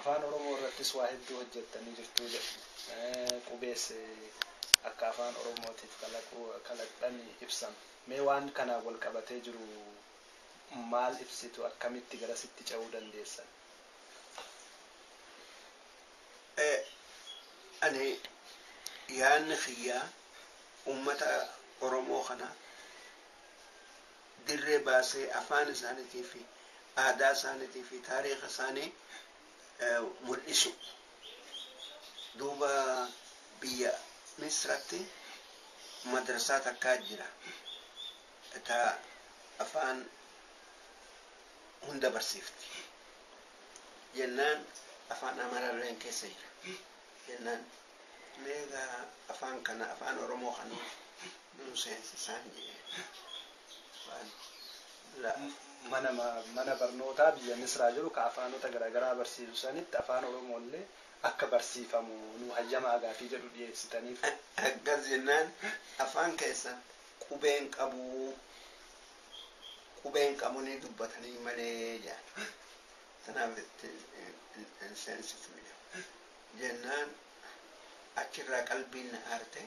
Afaan Oromoo irrattis waa hedduu hojjettanii jirtu jedhama. Qubees akka Afaan Oromootiif kalaquu kalaqxan ibsama. Mee waan kanaan wal qabatee jiru maal ibsitu? Akkamitti garasitti ce'uu dandeessan? Ani yaadni kiyya uummata Oromoo kana dirree baasee afaan isaanitii fi aadaa isaanitii fi taariikha isaanii mul'isu. Duuba biyya Misratti madrasaa takkaa jira ta afaan hunda barsiifti. Jennaan afaan Amaralleen keessa jira. jennaan mee egaa afaan kana afaan oromoo kana nuu seensisaan jedheen afaan la mana ma- mana barnootaa biyya misraa jiru ka afaanota garaagaraa barsiisu sanitti afaan oromoollee akka barsiifamu nuu hayyamaa gaafii jedhu dhiyeessitaniif akkas jennaan afaan keessan qubeen qabuu qubeen qabunii dubbatanii malee jedhan Kanaaf itti hin seensifnu jennaan achirraa qalbiin na aarte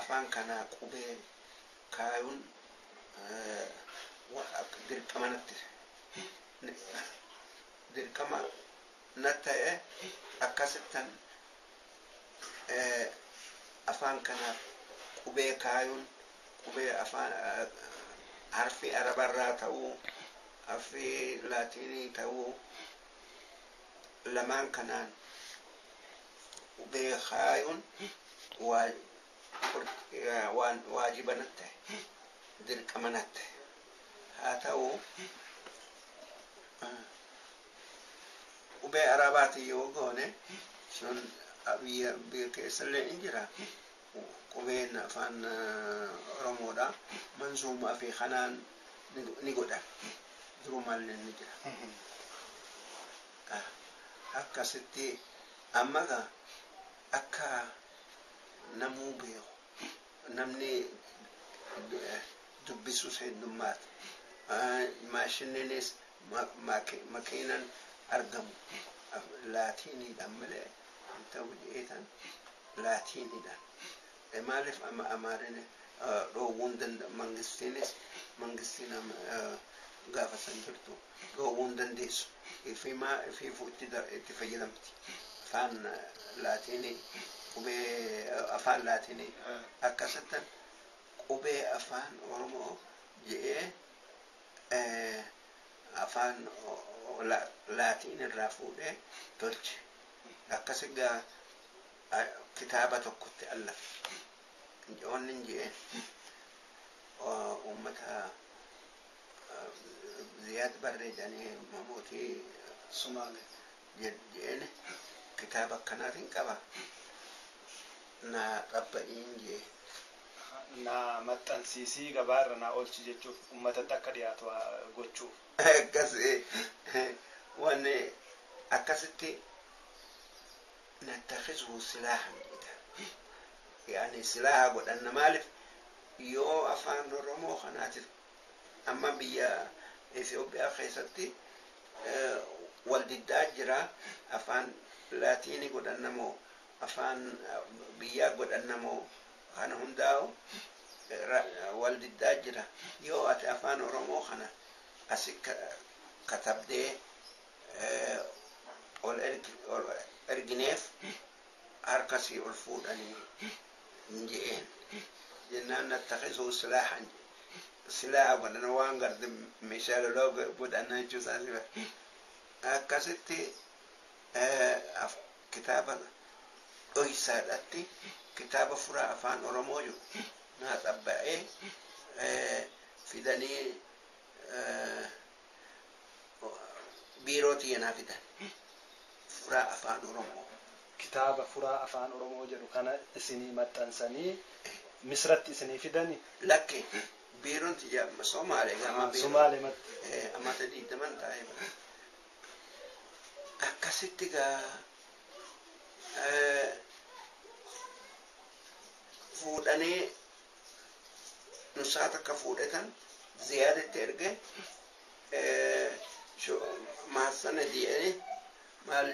afaan kanaa qubee kaayuun dirqama natti dirqama natti ta'e akkasittan afaan kanaaf qubee kaayuun qubee afaan harfii arabarraa ta'uu Affii Laatiinii ta'uu lamaan kanaan qubee kaayuun waan waajiba natti tahe, dirqama natti tahe. Haa ta'u, qubee Arabaatiin yoo goone sun biyya keessallee ni jira, Qubeen Afaan Oromoodha. Manzuumaa fi kanaan ni godhan. Durumaallee ni jira. Akkasitti amma egaa akka namuu beeku namni dubbisus heddummaate. Maashinniinis makiinan argamu laatiiniidhaan malee hin ta'u jedheetan. Laatiinidha. Maaliif Amaarina dhoowwuu hin danda'u? Mangistiinis mangistiin gaafa san jirtu dhoowwuu hin dandeessu. Ifimaa ifiifuu itti fayyadamti. Afaan Laatiinii qubee afaan Laatiinii akkasittan qubee afaan Oromoo je'ee afaan Laatiin irraa fuudhee tolche. Akkasi gaa. kitaaba tokkotti allaf wannin je'e ummata ziyaad barree jedhanii mootii sumaale je'een kitaaba akkanaatiin qaba naa qabba'iin je'e naa maxxansiisii gabaa irra naa oolchi jechuuf ummatatti akka dhiyaatu gochuuf. Akkas wanni akkasitti nattakhizhu silaahan jedha yaani silaaha godhanna maalif yoo afaan oromoo kanaatif amma biyya Ethiopia keessatti wal diddaa jira afaan laatiini godhanna moo afaan biyyaa godhanna moo kana hundaa'u wal diddaa jira yoo ati afaan oromoo kana asi katabdee ol ergineef harka sii ol fuudhanii hin je'een jennaan nattakisuu silaahan silaa godhan waan garde meeshaa lolaa godhanna jechuu isaa siba akkasitti kitaaba dhoysaadhatti kitaaba furaa afaan oromoo jiru naa xabba'ee fidanii biiroo tiyya naa fidan. Furaa Afaan Oromoo. Kitaaba Furaa Afaan Oromoo jedhu kana isinii maxxansanii Misratti isinii fidani? Lakki, biiroon tiyya amma Somaale gama Ahaa, biiroo. Somaalematti. Ee, amata digdaman taa'ee bara. Akkasitti gaa ee, fuudhanii dursaa takka fuudhe kan ziyaad itti erge maassana je'ee maal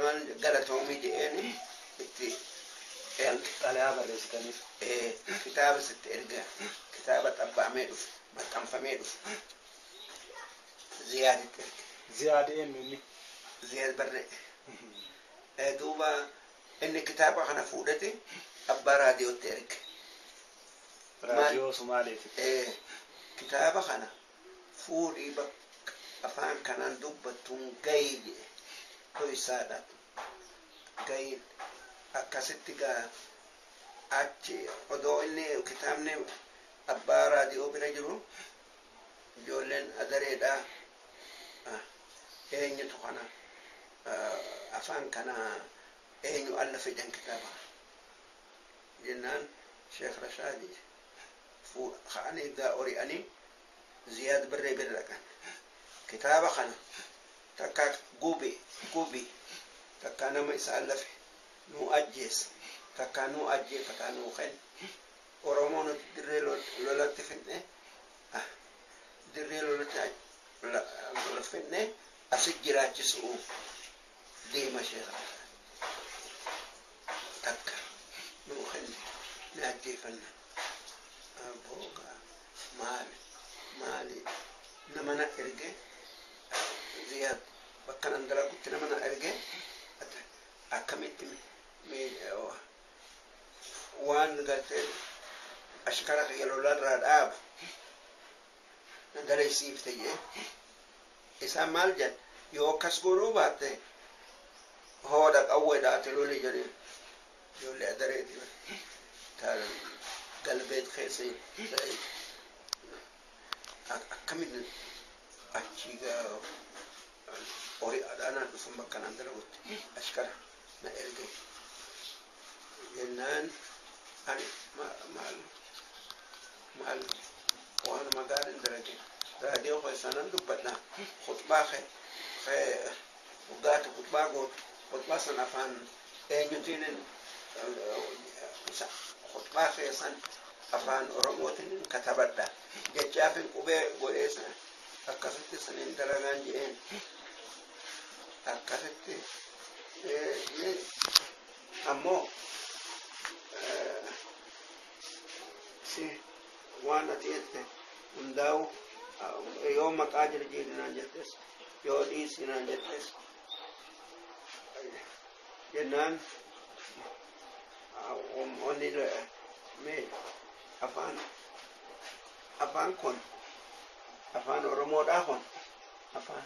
maal galatoomi je'eeni itti erge. Xalayaa barreessitaniif. Kitaaba sitti erge kitaaba xabbaamee dhufe maxxanfamee dhufe ziyaad itti erge. Ziyaad eenyu inni? Ziyaad barree. Duuba Inni kitaaba kana fuudheti abbaa raadiyootti erge. Raadiyoo Sumaaleeti. Ee, kitaaba kana fuudhii bakka afaan kanaan dubbattuun gayi jedhe. Dhoysaadha. Gayin. Akkasitti gaa achi odoo inni kitaabni abbaa raadiyoo bira jiru ijoolleen agareedha eenyutu kana afaan kana eenyu alla fidan kitaaba jennaan sheekh rashaadi ka'anii gaa ori'anii ziyaad barree bira dhaqan kitaaba kana takkaa gubi gubi takkaa nama isaan lafe nuu ajjeessa takkaa nuu ajjeefataa nuu kenna Oromoo nuti dirree lolatti fidne dirree lolatti fidne asi jiraachisu'uuf deema sheekaa takka nuu kenni ni ajjeefanna boogaa maali maali nama na erge ziyaad bakka nan dalagutti nama na erge akkamitti waan gartee ashkara kiyya lolarraa dhaabu na dalaysiifte jee isaan maal jedhan yoo akkas goonuu baatte hooda qawweedhaati loli jedheen ijoollee adareeti taala galbeet keessa akkamin achii gaa horii adhaanaan dhufan bakka naan dalagutti ashkara na erge jennaan ani maal maal waanuma gaariin dalage raadiyoo keessaa nan dubbadha khutbaa kee kee dhugaati khutbaa gootu khutbaa san afaan eenyutiinin khutbaa kee san afaan oromootiin katabadha jechaafin qubee godhee san akkasitti saniin dalagaan jedheen akkasitti inni ammoo si waan ati jette hundaa'u yoo maqaa jirjiirinaan jettes yoo dhiisinaan jettes jennaan onni mee afaan afaan kun afaan oromoodhaa kun afaan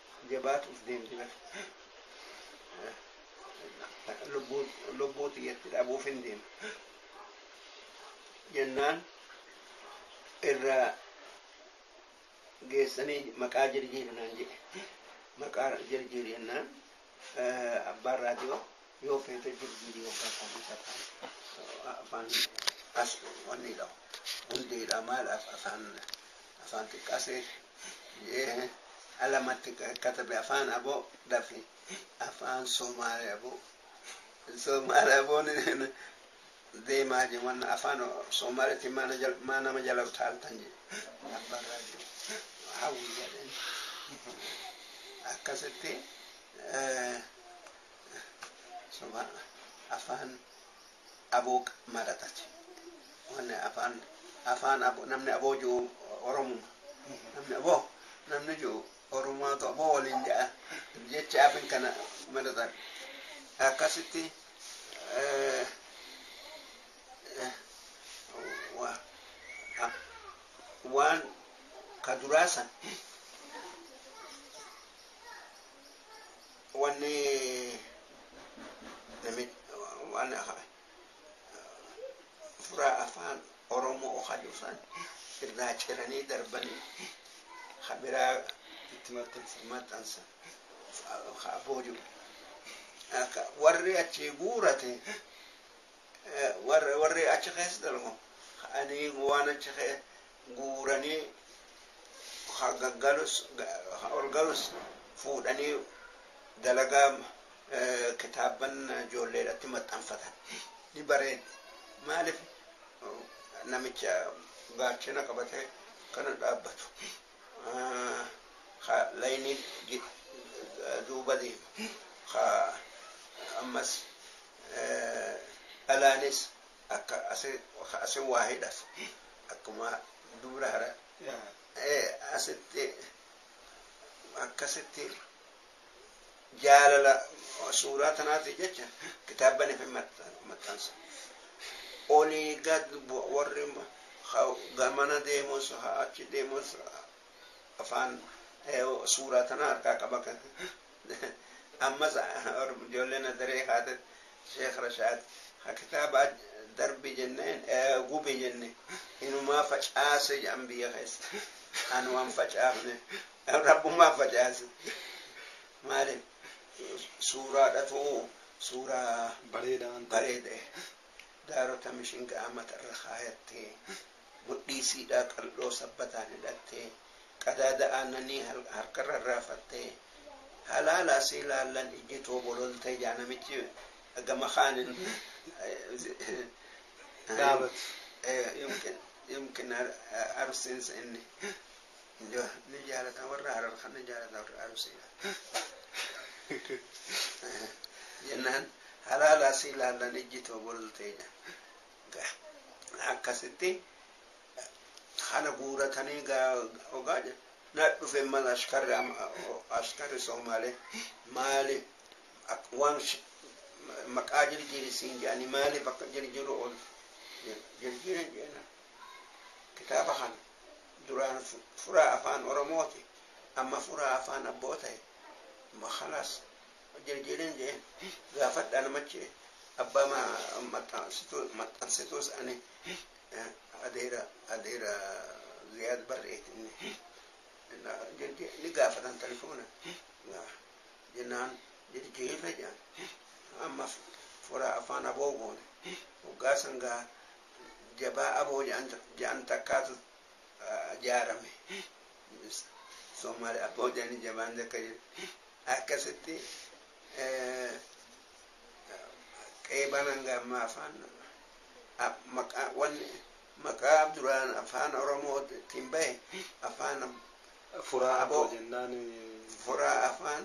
jabaatuuf deemti bar lubbuu lubbuu tiyyatti dhabuuf hin deema jennaan irra geessanii maqaa jirjiiri naan jedhe maqaa jirjiiri jennaan eh, abbaan raadiyoo yoo feete jirjiiri yookaan komisa afaan as wanni dhahu hundeedha maal af- afaan Afaan xiqqasee je'ee alamatti katabe afaan abo dafi afaan somaale abo somaale aboon deemaa je wan afaan somaaletti maa na jal- maa nama jala utaaltan je abbaan raajuu hawwi jedheen akkasitti eh, soma afaan Abo mara tate wanni afaan afaan abo namni aboo ji'u oromuma namni aboo namni ji'u oromaatu aboo waliin ja'a jecha afin kana maratan akkasitti eh, eh, wa- ah, waan ka duraa san Wanni namit waan furaa afaan Oromoo hayu san irraa ciranii darbanii ha biraa itti maxxansan ha booju warri achi guurate warri achi keessa dalgo ani waan achi guuranii gaggalus ol galus fuudhanii dalagaa kitaabban ijoollee irratti maxxanfatan ni bareeda. Maaliif namicha gaachena qabatee kana dhaabbatu ka layniin duuba deemu ka ammas dhalaanis Akka ase ka ase waa hidhaf akkuma dubra hara, e asitti akkasitti jaalala suuraa tanaatiif jecha kitaabbanif hin maxxansa. Olii gad bu'a warri ka gamana deemus ka achi deemus afaan suuraa tana harkaa qaba kan ammas ijoollee nazaree kaate sheekh rashaad ha kitaabaa darbi jenneen gubi jenne inumaa facaase jedhan biyya keessa an waan facaafne rabbumaa facaase maaliif suuraa dhatuu suuraa bareeda bareeda daarota mishingaa matarra kaayattee Mudhii siidhaa qal'oo sabbataan hidhattee, qadaada aannanii harkarra irraafattee, halaalaa si ilaallan ijji too bololtee jaa namichi gama kaanin Dhaabatu. yumkin yumkin arsiinsa inni ni jaalata warra harar kan ni jaalata warra arsiidha jennaan halaalaa si ilaallan ijji too bololtee jaa Gaa akkasitti kana guuratanii gaa ogaa jedhu na dhufe mal ashkarri ama- ashkarri soomaalee maali ak- waan sh- maqaa jirjiiri siin jedhanii maaliif akka jirjiru ol jirjiire jeena kitaaba kana duraan fu- furaa afaan oromooti amma furaa afaan abboo ta'e ma khalas Hojjajjeeleen je'e, Gaafadhaa namachi abbaa maxxansituus ani adeera adeera Ziyaad Barreeti inni jajjee ni gaafatan talifoona jennaan jajjeefe je'an. Amma fura afaan aboo goone. Hoggaa san gaa jabaa aboo je'an takkaatu jaarame. Soomaali aboo je'anii jabaan takka jirti. Akkasitti qeeban hanga ammaa afaan maqaa wanni maqaa duraan afaan oromootiin bahe afaan Furaa Aboo. aboo jennaan furaa afaan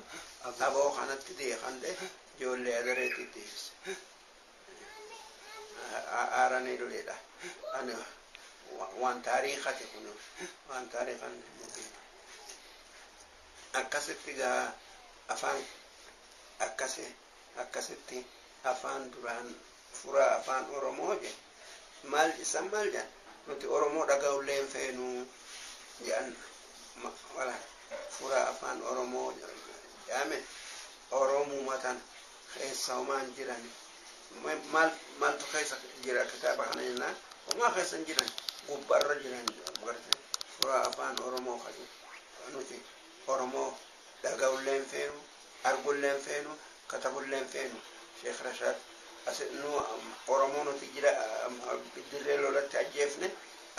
Aboo. aboo kanatti deekande ijoollee adareetti deebise. Aaranii duleedha. Ani wa- waan taariikati kun waan taariikan mukiin. Akkasitti gaa afaan akkasi akkasitti afaan duraan furaa afaan oromoo je maal issan maal jean nuti oromoo dhagaullee hin feenu jean wala furaa afaan oromoo jeame oromuma tan keessa homaa hin jiran maal maaltu keessa jira kitaaba kana jennaan homaa keessa hin jiran gubbarra jiran garte furaa afaan oromoo kaje Nuti Oromoo dhaga'ullee hin feenu, argullee hin feenu, katabullee hin feenu. Sheek Rashaad asi nu Oromoo nuti jira dirree lolatti ajjeefne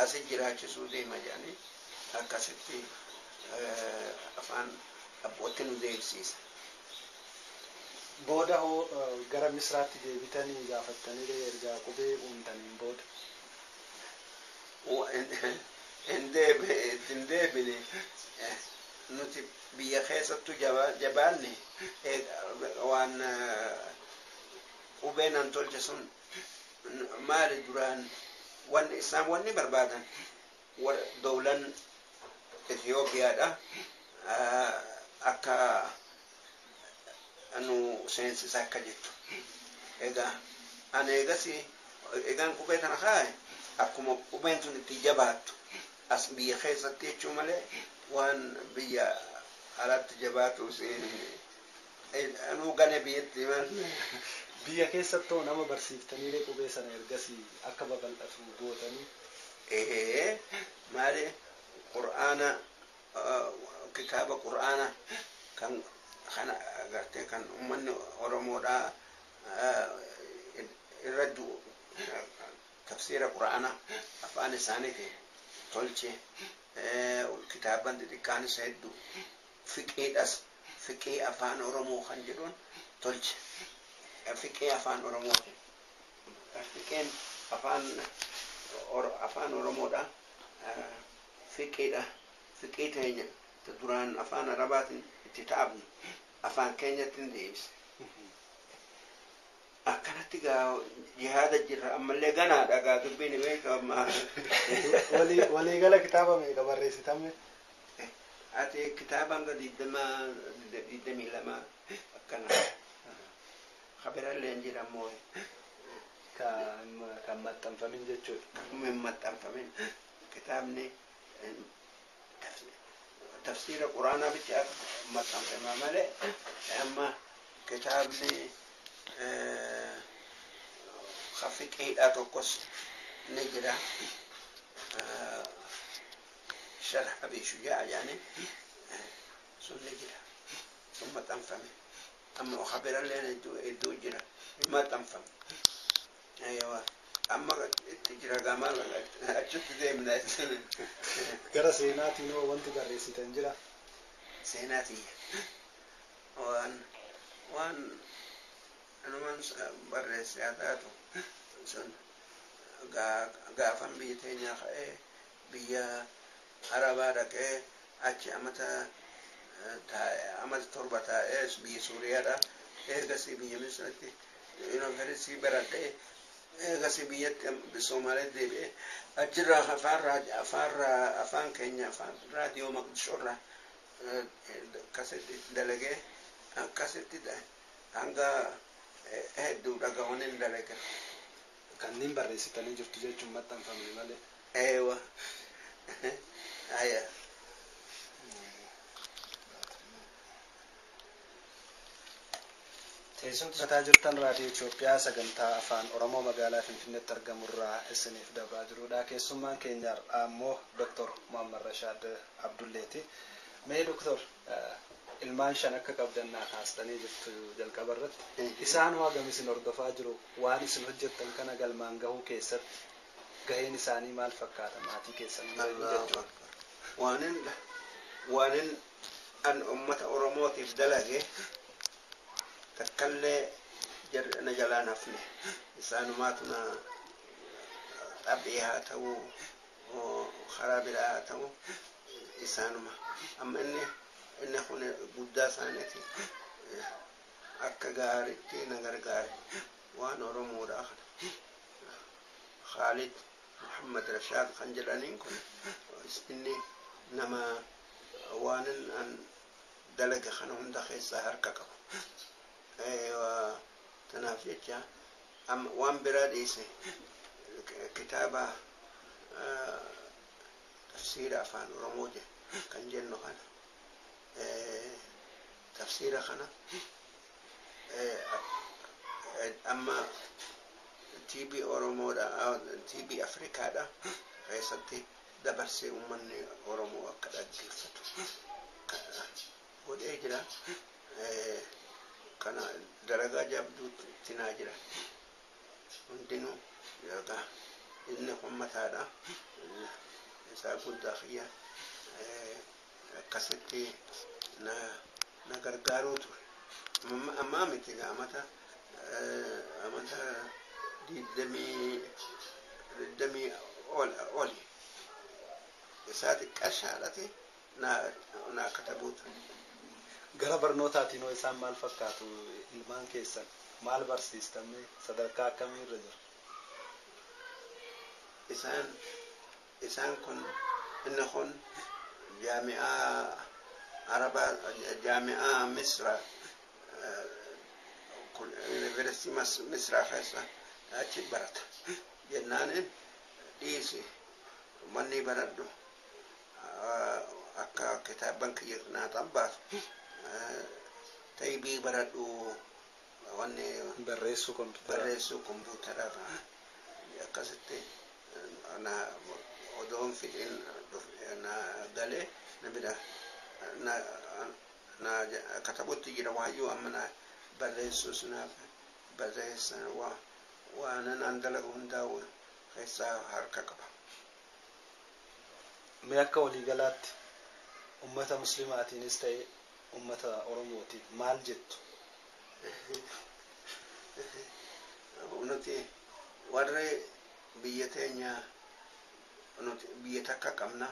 asi jiraachisuu deema jedhanii akkasitti afaan abbootti nu deebisiisan. Booda hoo gara Misraatti deebitanii gaafattaniree erga qubee uuntaniin booda? hin deebine itti hin deebine nuti biyya keessattu jabaanne waan qubee nan tolche sun maali duraan wanni isaan wanni barbaadan dowlan Itiyoophiyaadha akka nu seensisa akka jettu. Egaa ani eegasii egaan qubee kana kaa'e akkuma qubeen tun itti jabaattu as biyya keessatti jechuu malee waan biyya alaatti jabaatu siin anuu gane biyyatti maal Biyya keessattoo nama barsiiftaniiree qubee sana ergasii akka babal'atu gootanii? ee maali qur'aana kitaaba qur'aana kan kana agartee kan ummanni oromoodhaa irra du'u tafsiira qur'aana afaan isaaniitiin tolche kitaabban xixiqqaanis heddu fiqiidhas fiqii afaan oromoo kan jedhuun tolche fiqii afaan oromootiin fiqiin afaan afaan oromoodhaa Fiqidha fiqii teenya ta duraan afaan arabaatin itti taphne afaan keenyattin deebisne akkanatti gaa jihaada jirra ammallee ganaadha gaa dubbiin hin beekama Walii walii gala kitaaba meeqa barreessitamme? ati kitaaba hanga digdama digdamii lama akkana kabiralleen jira mooye Ka hin ma- kan maxxanfamin jechuudha. hin maxxanfamin Kitaabni tafsiira Quraanaa bichaaf maxxanfame malee amma kitaabni fiqiidhaa tokkos ni jira. Sharh Abi Shujaa jedhanii sun ni jira. Sun maxxanfame. Amma kabirallee hedduu jira. Hin maxxanfame. Eewa amma itti jira gaa maal godha achitti deemna jechuun. Gara seenaatiin hoo wanti barreessitan jira? Seenaa tiyya waan waan anuman barreesse haa taatu sun gaafan biyya teenyaa ka'ee Biyya Arabaa dhaqee achi amata taa'e. Amata torba taa'ee biyya Suuriyaadha. Eegasii biyya Misiritti Yunivarsiitii baradhee eegasii biyyatti Somaaleetti deebi'ee achirraa afaan raadiyoo afaan afaan keenya afaan raadiyoo Maqdishoorraa akkasitti dalagee akkasitti hanga hedduu dhagahuun hin dalage. Kanneen barreessitanii jirtu jechuun maxxanfamne malee. Eewa. Haya. Teessoon dhaggeeffataa jirtan Raadiyoo Itoophiyaa sagantaa Afaan Oromoo magaalaa Finfinneetti argamu irraa isiniif dabraa jirudha. Keessummaan keenya har'aa immoo Doktor Muhammad Rashaad Abdulleeti. Mee Doktor. Ilmaan shan akka qabdan naa kaastanii jirtu jalqaba irratti. Isaan hoo hagam isin hordofaa jiru? Waan isin hojjettan kana galmaan gahuu keessatti gaheen isaanii maal fakkaata? Maatii keessan bira jiru jechuudha. Waanin waanin an ummata Oromootiif dalage takkallee jarri ana jalaa hin hafne. Isaanumaatu na xaphee haa ta'uu. moo karaa biraa haa ta'u isaanuma amma inni inni kun guddaa isaaniiti akka gaaritti na gargaare waan oromoodhaa kana khaalid muhammad rashaad kan jedhaniin kun inni nama waanin an dalage kana hunda keessaa harka qabu tanaaf jecha Amma waan biraa dhiisi kitaaba tafsiira afaan oromoo kan jennu kana tafsiira kana amma TV oromoodha TV afrikaadha keessatti dabarsee ummanni oromoo akka dhaggeeffatu godhee jira kana dalagaa jabduutti naa jira hundinuu dalagaa inni kun mataadha isaa guddaa kiyya akkasitti na na gargaaruu ture Amma- ammaa miti egaa amata eh, amata digdamii digdamii ol oli isaa xiqqashaadhati naa katabuuta. Gara barnootaatiin hoo isaan maal fakkaatu? Ilmaan keessan maal barsiistan mee? Sadarkaa akkamii irra jiru? Isaan isaan kun inni kun jaami'aa Arabaa jaami'aa Misra University Mas- Misra keessa achi barata jennaaniin dhiisi mannii baradhu Akka kitaabban kiyya naaxan baasu xaybii baradhu wanni Barreessuu kompiitaraa. barreessuu kompuutara akkasitti na odoon fixin dhuf- na galee na bira na, na katabutti jira waayyuu amma na barreessuus na barreessa wa- waanan an dalagu hundaa keessaa harka qaba. Mee akka waliigalaatti ummata muslimaatiinis ta'ee ummata Oromootiif maal jettu? Nuti warri biyya teenya nuti biyya takka qabna.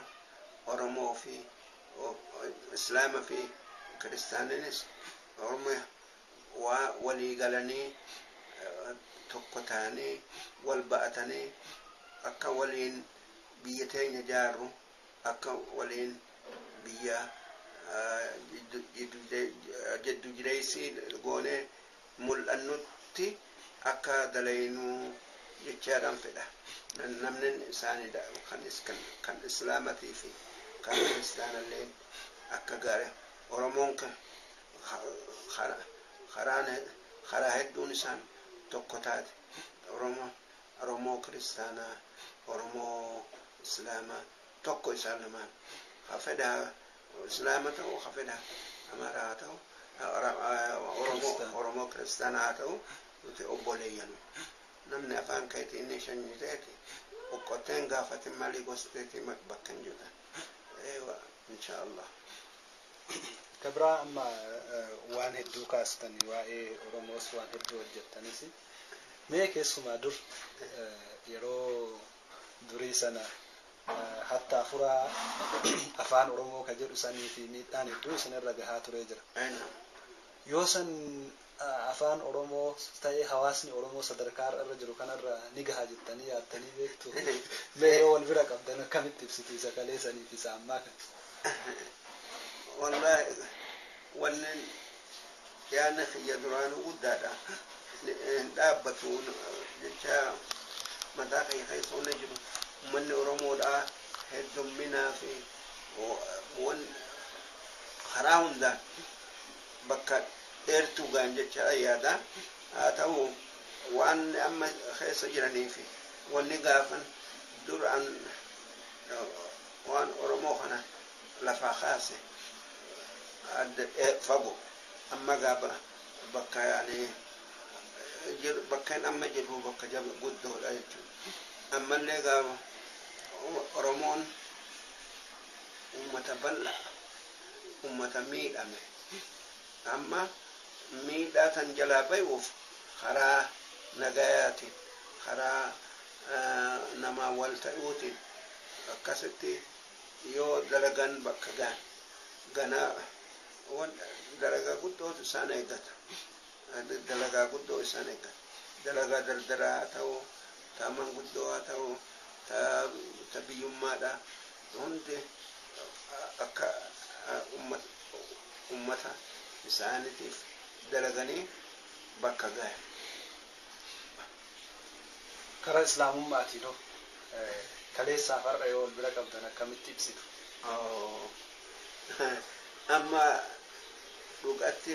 Oromoo fi Islaama fi Kiristaaniinis Oromiyaa. waa walii galanii tokko tahanii wal ba'atanii akka waliin biyya teenya jaarru akka waliin biyya jiddu jireessii goonee mul'annutti akka dalaynuu jechaadhaan fedha namni isaanii kan islaamatiifi kan kiristaanalleen akka gaari oromoon karaa hedduun isaan tokko taate oromoo kiristaanaa oromoo islaamaa tokko isaan lamaan ka fedha islaama ta'u ka fedha amaaraa haa ta'u oromoo kiristaanaa haa ta'u nuti obboleeyyanu namni afaan keetii inni shanyii ta'eeti oqqotteen gaafatin malii gosti teetii bakka hin jirtan Ka biraa amma waan hedduu kaastan waa'ee Oromoos waan hedduu hojjettanis mee keessumaa dur yeroo durii sana hatta afuraa afaan Oromoo ka jedhu sanii fi miidhaan hedduu isinirra gahaa turee jira. Yoo san Afaan Oromoo ta'e hawaasni Oromoo sadarkaa har'a irra jiru kanarra ni gaha jettanii yaaddanii beektuu? Mee yoo wal bira qabdan akkamitti ibsitu isa kaleesanii fi isa ammaa kana? Wallaahi wanni yaadni kiyya duraanuu guddaadha. Hin dhaabbatu jecha mataa kiyya keessa wanni jiru ummanni Oromoodhaa heddomminaa fi waan karaa hundaan. bakka dheertuu ga'an jechaa yaada. Haa ta'u waan amma keessa jiranii fi wanni gaafan duraan waan Oromoo kana lafaa kaase adda fago. Amma gaa bakka yaani bakkeen amma jirru bakka jaba guddoodha jechuudha. Ammallee gaa Oromoon uummata bal'aa ummata miidhame amma miidhaa kan jalaa bayuuf karaa nagayaatiin karaa namaa wal tayuutiin akkasitti yoo dalagan bakka gahan ganaa wan dalagaa guddootu isaan eegata. Dalagaa guddoo isaan eeggata. Dalagaa dardaraa haa ta'u, ta manguddoo haa ta'u, ta biyyummaadhaa hundi akka ummata isaaniitiif dalaganii bakka gahan. Karaa Islaamumma'aatiinoo kaleessaa fi har'a yoo wal bira qabdan akkamitti ibsitu? Amma dhugatti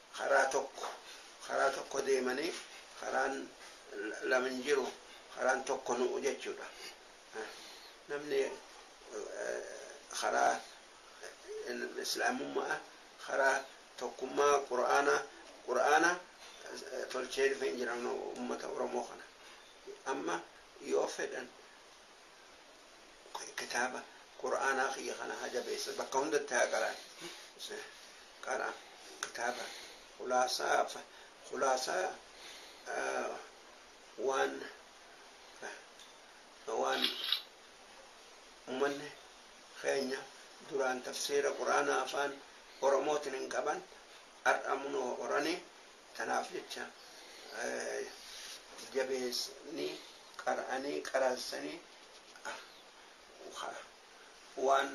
Karaa tokko karaa tokko deemanii karaan lama hin jiru karaan tokko nu'u jechuudha. Namni karaa islaamumma'a karaa tokkummaa qur'aana qur'aana tolchee dhufee hin jira ummata oromoo kana amma yoo fedhan kitaaba qur'aanaa kiyya kana haa jabeessan bakka hundatti haa qara'an qara kitaaba khulaasaa fa- khulaasaa ah, waan waan uummanni keenya duraan tafsiira qur'aanaa afaan oromootiin hin qaban har'a munoo horanii Tanaaf jecha jabeessanii qara'anii qaraassanii waan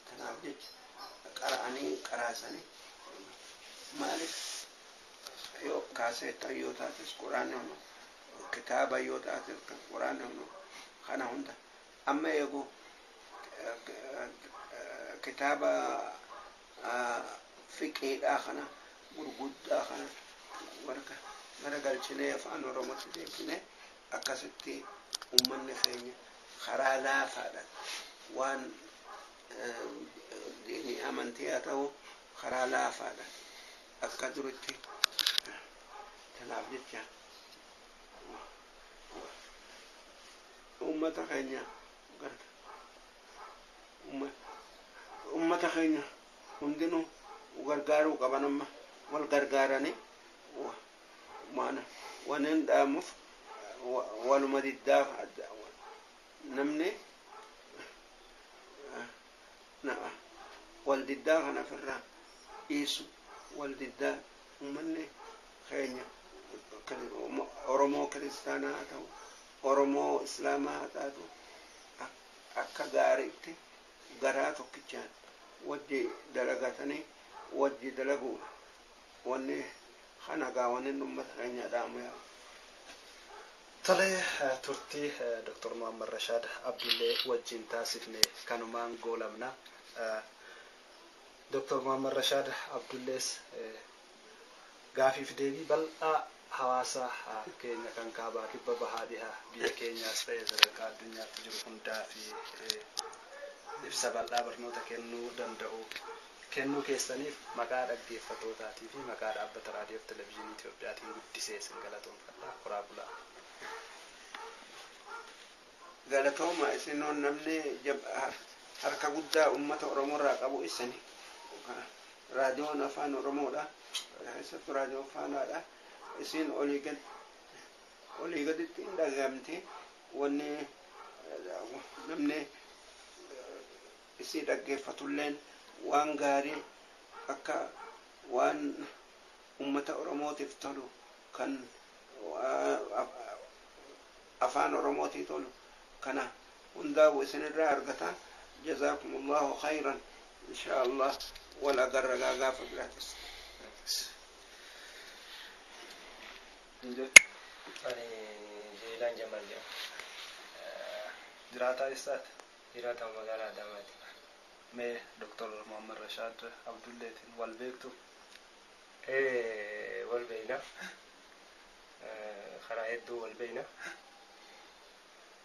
Tanaaf jecha qara'anii qaraasanii maaliif yoo kaaseettan yoo taates quraanni hunu kitaaba yoo taates quraanni hunu kana hunda Amma eegu kitaaba fiqiidhaa kana gurguddaa kana warra garagalchinee afaan oromootti deebisnee akkasitti ummanni keenya karaa laafaadhaan waan diinii amantii haa ta'u karaa laafaadhaan akka duritti tanaaf jecha Ummata keenya Ummata keenya hundinuu gargaaruu qaban amma wal gargaaranii maana wanin dhaamuf waluma diddaa namni wal diddaa kana ofirraa dhiisu wal diddaa ummanni keenya Oromoo kiristaanaa haa ta'u Oromoo Islaamaa haa taatu akka gaariitti garaa tokkichaan wajji dalagatanii wajji dalaguun wanni kana gaa wannin ummata keenyaa dhaamu yaa Tole turtii Dr. Muhammad Rashaad Abdullee wajjiin taasifne kanumaan goolabna. Dr. Muhammad Rashaad Abdullees Gaafii fi deebii bal'aa hawaasa keenya kan kaabaa, kibba, bahaa, dhiha biyya keenyaas ta'e sadarkaa addunyaatti jiru hundaaf ibsa bal'aa barnoota kennuu danda'u kennuu keessaniif maqaa dhaggeeffattootaatii fi maqaa Dhaabbata Raadiyoo fi Televizhinii Itoophiyaatiin guddisee isin galatoomfadha. Horaa bulaa! Galatooma isinoo namni harka guddaa ummata oromoo irraa qabu issani. Raadiyoon afaan oromoodha. Keessattu raadiyoo faanaadha. Isiin olii gad olii gaditti hin dhagahamti. Wanni namni isii dhaggeeffatulleen waan gaarii akka waan ummata oromootiif tolu kan afaan oromootii tolu kana hundaa'u isin irraa argata jazaakumullahu khayran inshaa allah wal agarra gaa gaafa biraatis Ani Jeelaan Jamal jedhama. Jiraataa eessaati? Jiraataa magaalaa Adaamaati. Mee Dr. Muhammad Rashaad Abdulleetiin wal beektu? Ee wal beekna. Karaa hedduu wal beekna.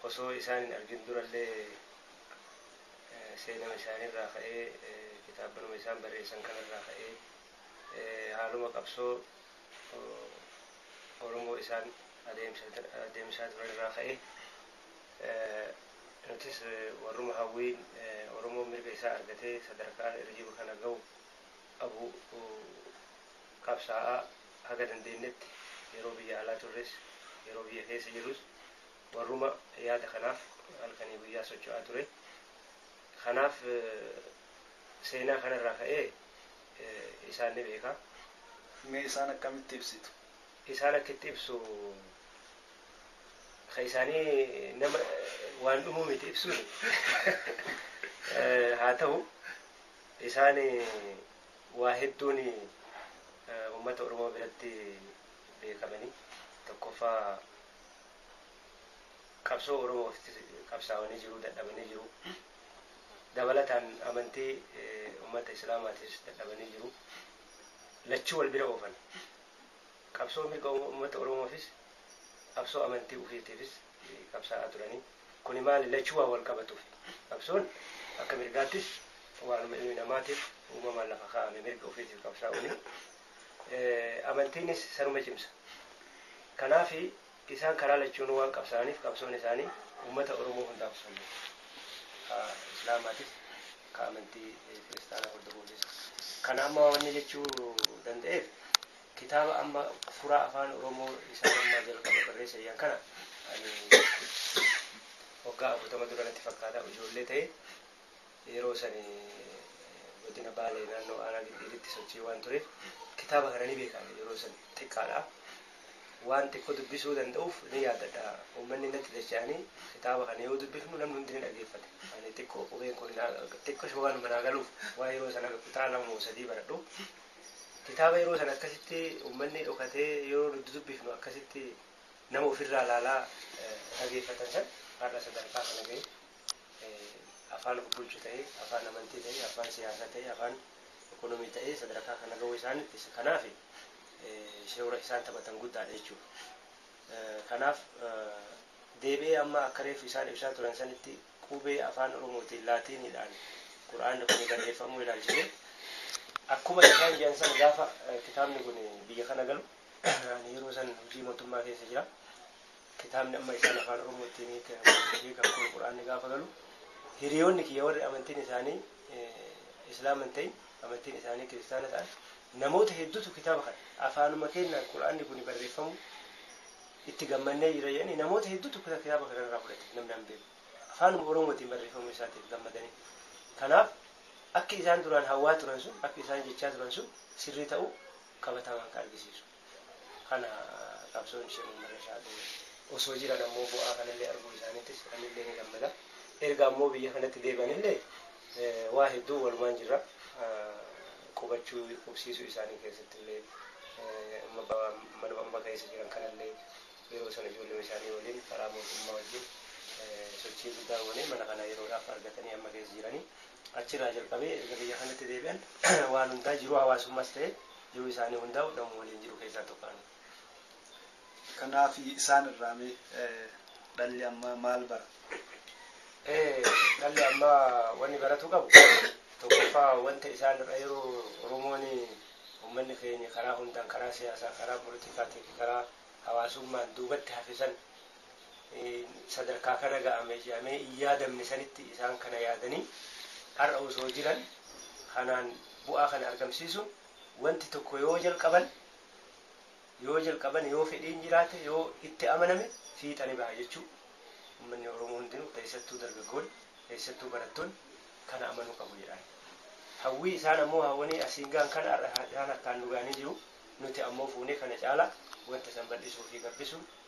Osoo isaan hin argin durallee seenama isaaniirraa ka'ee, kitaabbanuma isaan barreessan kanarraa ka'ee haaluma qabsoo Oromoo isaan adeemsisaa turanirraa ka'ee nutis warruma hawwiin Oromoon mirga isaa argatee sadarkaa irra jiru kana gahu qabu qabsaa'aa haga dandeennetti yeroo biyya alaa turres yeroo biyya keessa jirrus warruma yaada kanaaf halkanii guyyaa socho'aa ture. Kanaaf seenaa kana irraa ka'ee isaan ni beeka. Mee isaan akkamitti ibsitu? Isaan akka itti ibsu ka isaanii nama waan dhumuu miti ibsuun. Haa ta'u isaan waa hedduun uummata Oromoo biratti beekamani. Tokkoffaa qabsoo Oromoof qabsaawanii jiruu dadhabanii jiruu. Dabalataan amantii uummata Islaamaatiis dadhabanii jiruu. Lachuu wal bira oofan. Qabsoo mirga uummata Oromoofis qabsoo amantii ufiitiifis. qabsaa'aa turanii. Kuni maali? Lachuu waan wal qabatuufi. Qabsoon akka mirgaattis waanuma ilmi namaatiif uumamaan lafa kaa'ame mirga ofiitiif qabsaa'uuni. Amantiinis sanuma cimsa. Kanaafi isaan karaa lachuunuu waan qabsaa'aniif qabsoon isaanii uummata Oromoo hundaaf osoo hin taane ka Islaamaatis ka amantii Kiristaanaa hordofuufis. Kana amma wanni jechuu danda'eef. Kitaaba amma furaa afaan oromoo isaa dammaa jalqaba barreessa iyyan kana ani waggaa afurtama dura natti fakkaata ijoollee ta'e yeroo sani godina baalee naannoo aanaa giddiiritti sochii waan tureef kitaaba kana ni beeka ani yeroo san xiqqaadha waan xiqqoo dubbisuu danda'uuf ni yaadadha uummanni natti dacha'anii kitaaba kana yoo dubbifnu namni hundi ni dhageeffate ani xiqqoo qubeen kun xiqqisho waanuma naa galuuf waan yeroo san aga kutaa lama moo sadii baradhu Kitaaba yeroo sana akkasitti ummanni dhokatee yeroo nuti dubbifnu akkasitti nama ofirraa ilaalaa dhageeffatan san har'a sadarkaa kana ga'e afaan of bulchu ta'ee, afaan amantii ta'ee, afaan siyaasaa ta'ee, afaan ekonomii ta'ee sadarkaa kana ga'uu isaan kanaaf shoora isaan taphatan guddaadha jechuudha. Kanaaf deebi'ee amma akka reefu isaan ibsaa turan sanitti Qubee Afaan Oromootiin, Laatiiniidhaan, Qur'aanni kuni barreeffamuu ilaalchisee, akkuma isaan jedhan sana gaafa kitaabni kuni biyya kana galu, ani yeroo san hojii mootummaa keessa jira, kitaabni amma isaan Afaan Oromoottiin hiikan kun Qur'aanni gaafa galu, hiriyoonni kiyya warri amantiin isaanii Islaama hin ta'in, amantiin isaanii Kiristaana ta'an, namoota hedduutu kitaaba kana, afaanuma keennaan Qur'aanni kuni barreeffamuu, Itti gammannee jirra jedhanii namoota hedduutu kitaaba kana irraa fudhate. Namni an beeku. Afaanuma Oromootiin barreeffamuu isaatiif gammadanii. Kanaaf akki isaan duraan hawwaa turan sun, akki isaan jechaa turan sun sirrii ta'uu qabatamaan kan argisiisu kana. Qabsoon Sheek Muhammad Rashaad osoo jiran ammoo bu'aa kanallee arguu isaaniittis anillee ni gammada. Erga ammoo biyya kanatti deebi'anillee Waa hedduu walumaan jirra. Qubachuu, qubsiisuu isaanii keessattillee manuma amma keessa jiran kanallee yeroo sana ijoolluma isaanii waliin karaa mootummaa wajjin sochii guddaa goonee mana kana yeroodhaaf argatanii amma keessa jiranii. Achirraa jalqabee erga biyya kanatti deebi'an waan hundaa jiruu hawaasummaas ta'ee jiruu isaanii hundaa'u namuma waliin jiru keessaa tokko ani. Kanaaf isaan irraa mee dhalli ammaa maal bara? Dhalli ammaa wanni baratuu qabu tokkoffaa wanta isaan irraa yeroo Oromoon uummanni keenya karaa hundaan karaa siyaasaa, karaa politikaatii fi karaa hawaasummaan duubatti hafe san sadarkaa kana ga'ame jedhamee hin yaadamne sanitti isaan kana yaadanii har'a osoo jiran kanaan bu'aa kana argamsiisuun wanti tokko yoo jalqaban yoo jalqaban yoo fedhiin jiraate yoo itti amaname fiixani baha jechuu ummanni Oromoo hundinuu keessattuu dargaggoon keessattuu barattoon kana amanuu qabu jedhaan. Hawwii isaan ammoo hawwanii asiin gahan kana har'a isaan harkaan nu gahanii jiru nuti ammoo fuunee kana caalaa wanta san bal'isuu fi gabbisuun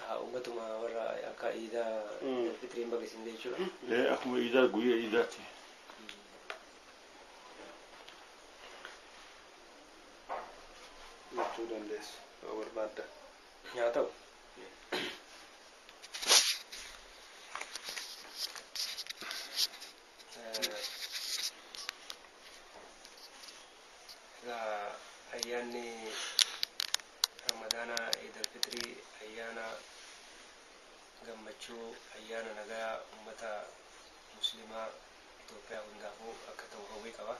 Haa ummatuma warra akka iidaa Mm. Idil Fixriin baga isin ga'e jechuudha. Ee, akkuma iidaa guyyaa iidaatti. Jechuu dandeessu yoo barbaadda. Haa ta'u. Egaa ayyaanni Ramadaanaa Iidal Fixrii ayyaana gammachuu, ayyaana nagaa ummata Musliimaa Itoophiyaa hundaafuu akka ta'u hawwii qaba.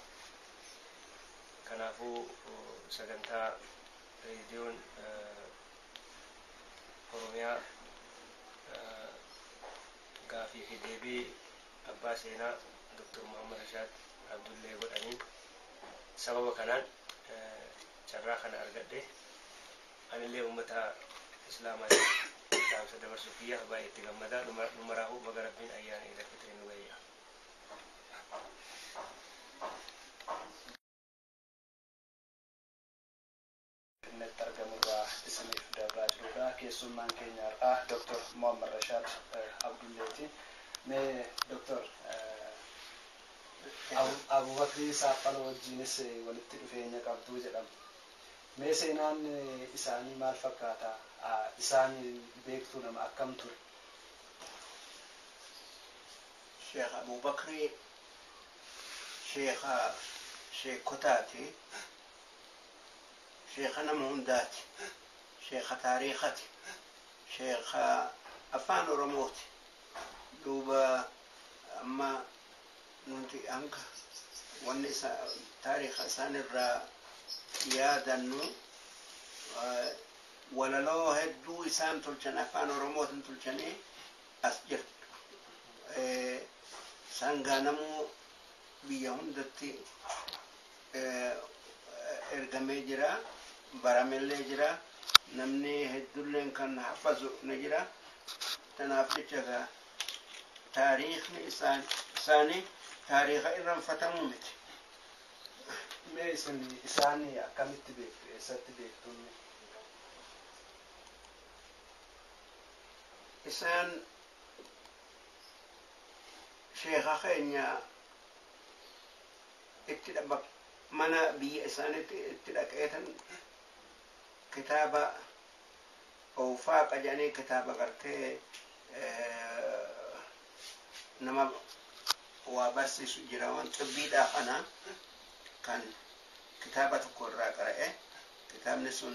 Kanaafuu sagantaa Reediyoon Oromiyaa gaafii fi deebii Abbaa Seenaa Dr. Muhammad Rashaad Abdullee godhaniin sababa kanaan carraa kana argadhe. Anillee ummata Islaamaatiif dhaamsa dabarsuu kiyya baay'ee itti gammada. Nu maraahuu baga Rabbiin Ayyaana Iid Alfixriin nu gahe jedha. Finfinneetti argamu irraa isiniif dabraa jirudha. Keessummaan keenya har'aa Dr. Mohammad Rashaad Abdulleeti. Mee Dr. Abubakrii Saaffaloo wajjiinis walitti dhufeenya qabdu jedhama. Mee seenaan isaanii maal fakkaata? Isaan beektuu nama akkam ture? Sheekh Abubakrii sheekha sheekkotaati. Sheekha nama hundaati. Sheekha taariikhati. Sheekha Afaan Oromooti. Duuba amma nuti hanga wanni taariikha isaan irraa yaadannu walaloo hedduu isaan tolchan Afaan Oromootin tolchanii as jirtu. Isaan gaa namuu biyya hundatti. ergamee jira baramellee jira namni heddulleen kan hafazu ni jira tanaaf jecha egaa taariikni isaan isaanii taariika irranfatamu miti mee isin isaan akkamitti beektu eessatti beektuun isaan sheeka keenya itti dhabbake. Mana biyya isaanitti itti dhaqeetan kitaaba Owfaaqa jedhanii kitaaba gartee nama waa barsiisu jira waan xibbiidhaa kana kan kitaaba tokko irraa qara'e kitaabni sun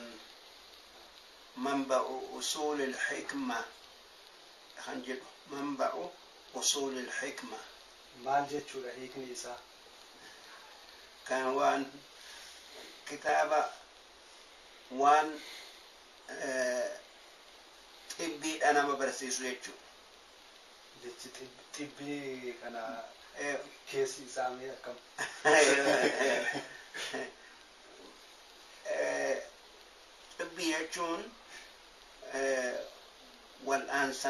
manba'u usuulil hikma kan jedhu manba'u usuulil hikma Maal jechuudha hiikni isaa? Kan waan kitaaba waan xibbiidha nama barsiisu jechuudha. Jechi xibbii kana keessi isaa mee akkam? Xibbii jechuun wal'aansa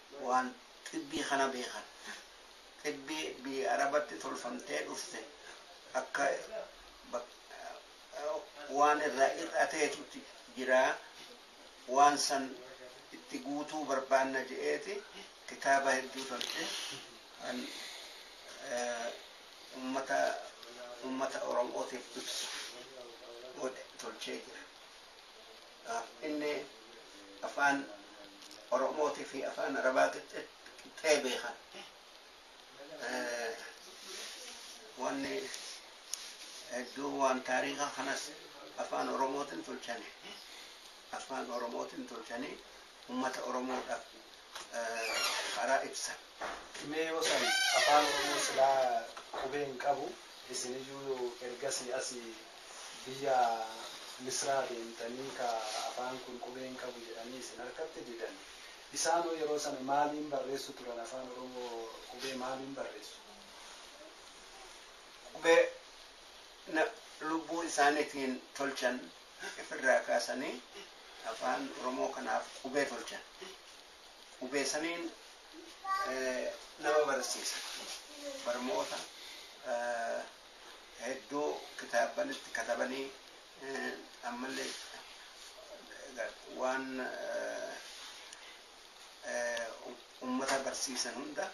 waan xibbii kana beekan. Xibbii biyya Arabatti tolfamtee dhufte akka waan irraa hir'ateetuti jira, waan san itti guutuu barbaanna je'eeti kitaaba hedduu tolche, kan ummata ummata Oromootiif ibsu godhe tolchee jira. Dhaabbilee Afaan Oromootii fi Afaan Arabaa qixxee beekan wanni hedduu waan taariikaa kanas Afaan Oromootiin tolchanii Afaan Oromootiin tolchanii ummata Oromoo dhaf karaa ibsan. Mee yoo san afaan oromoo silaa qubee hin qabu isin iyyuu ergasii asi biyya misraa deemtanii ka afaan kun qubee hin qabu jedhanii isin harkatti didan isaan hoo yeroo sana maaliin barreessu turan afaan oromoo qubee maaliin barreessu? Qubee na lubbuu isaanitiin tolchan Haqf irraa kaasanii Afaan Oromoo kanaaf qubee tolchan. Qubee saniin nama barsiisan. Barmoota hedduu kitaabban itti katabanii ammallee waan ummata barsiisan hunda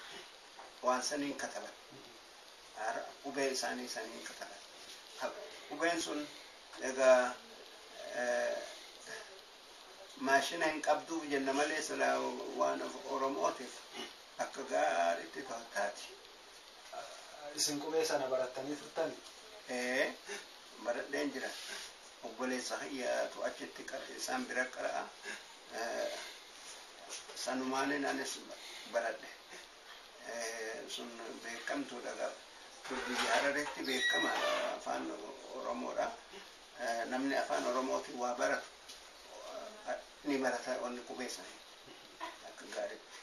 waan saniin kataban. Qubee isaanii saniin kataban. Qubeen sun Egaa maashina hin qabduuf jenna malee silaa waan Oromootiif akka gaariitti toltaati. Isin qubee sana barattanii turtani? Ee, baradheen jira. Obboleessa kiyyaatu achitti isaan bira qara'a. Sanumaanin anis baradhe. sun beekamtuudha egaa kun biyya hararetti beekamaadha afaan oromoodha namni afaan oromootiin waa baratu ni barata wanni qubee isaanii akka gaariitti.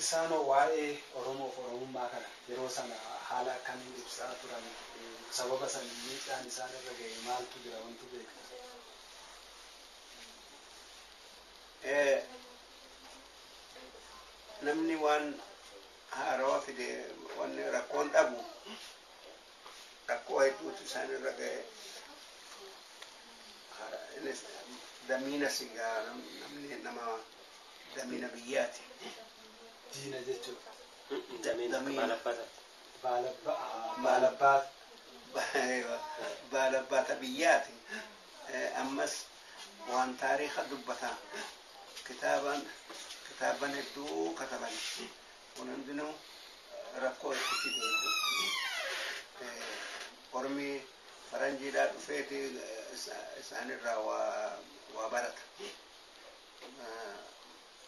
Isaanoo waa'ee Oromoof Oromummaa kana yeroo sana haala akkamiin ibsaa turan? Sababa san miidhaan isaan irra ga'e maaltu jira wantu beektu? Namni waan haarawa fide wanni rakkoon dhabu rakkoo hedduutu isaan irra ga'e. Hara- Innis damiina sigaa nam- namni nama damiina biyyaati. Diina jechuun Damiin akka Damiin. baalabbata. baala ba'a. Baala baata. Ba- Baala baata biyyaati. Eh, Ammas waan taariikha dubbata. Kitaabaan kitaabban hedduu kataban kun hundinuu rakkoo itti fide hedduu ormi faranjiidhaa dhufeeti isaanirraa waa barata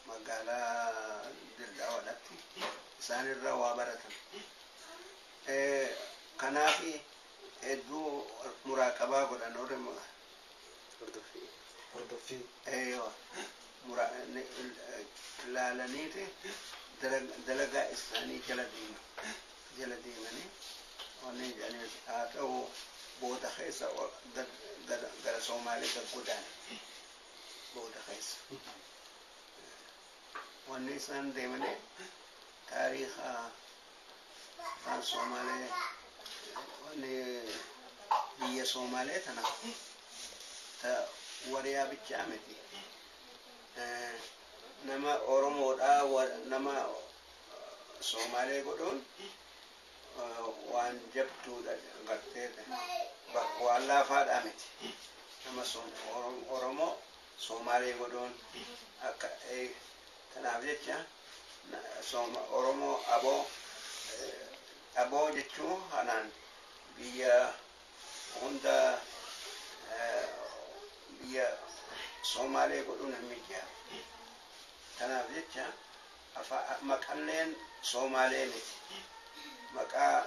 magaalaa dirdhawadhatti isaanirra waa baratan kanaafi hedduu muraaqabaa godhan orma Hordoffii. Hordoffii. Eeyoo. Mura, ni, laalaniiti dalag, dalagaa isaanii jala deema. Jala deemanii wanni jedhaniis haa ta'u booda keessa ol- gad, gad, gara Soomaalee gad godaane. Booda keessa. Wanni isaan deemanii taariikha Afaan Soomaalee wanni biyya Soomaalee tana ta wariyaa bichaa miti. Nama Oromoodhaa nama Soomaalee godhuun waan jabduudha gartee bakka waan laafaadhaa miti. Nama Oromoo Soomaalee godhuun akka Kanaaf jecha sooma Oromoo abo abo jechuu kanaan biyya hunda biyya Soomaalee godhuun hin mijjaawu. Kanaaf jecha maqalleen Soomaalee miti. Maqaa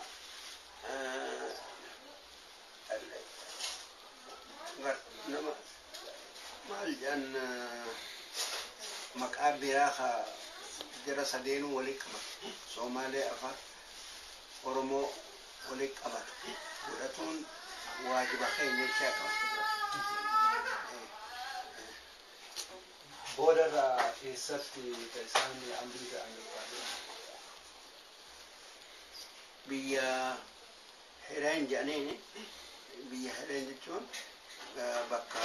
nama maal jedhan maqaa biraa ka jara sadeenuu waliin qabatu soomaalee afaan oromoo waliin qabatu godhatuun waajiba keenya jechaa qaba. Booda irraa eessatti ka isaan amrii ta'an barbaadu? Biyya Hereen jedhaniin biyya hereen jechuun bakka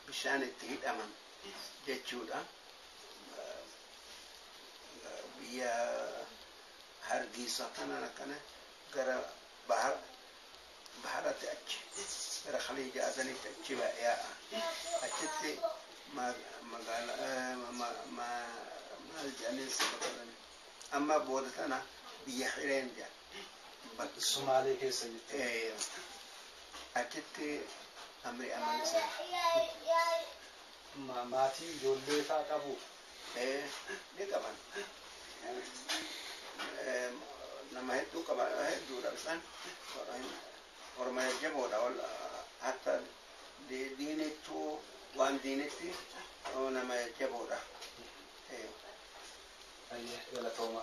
bishaan itti hidhaman jechuudha. Biyya hargiisa kanaan akkana gara bahara baharatti achi gara khaliija adanitti achi yaa'a. Achitti magaala maal jedhaniin saba kanani amma booda tana biyya hireen jedhan. Sumaalee keessa jirti. Eh, achitti amri amala sana. Ma- Maatii ijoollee faa qabu. Eh, ni qaban. Eh, nama hedduu qaban hedduudha isaan. Orma jajjaboodha. Ol- Hatta di- diinittuu waan diinitti oh, nama jajjaboodha. Eh, Ayyee galatooma.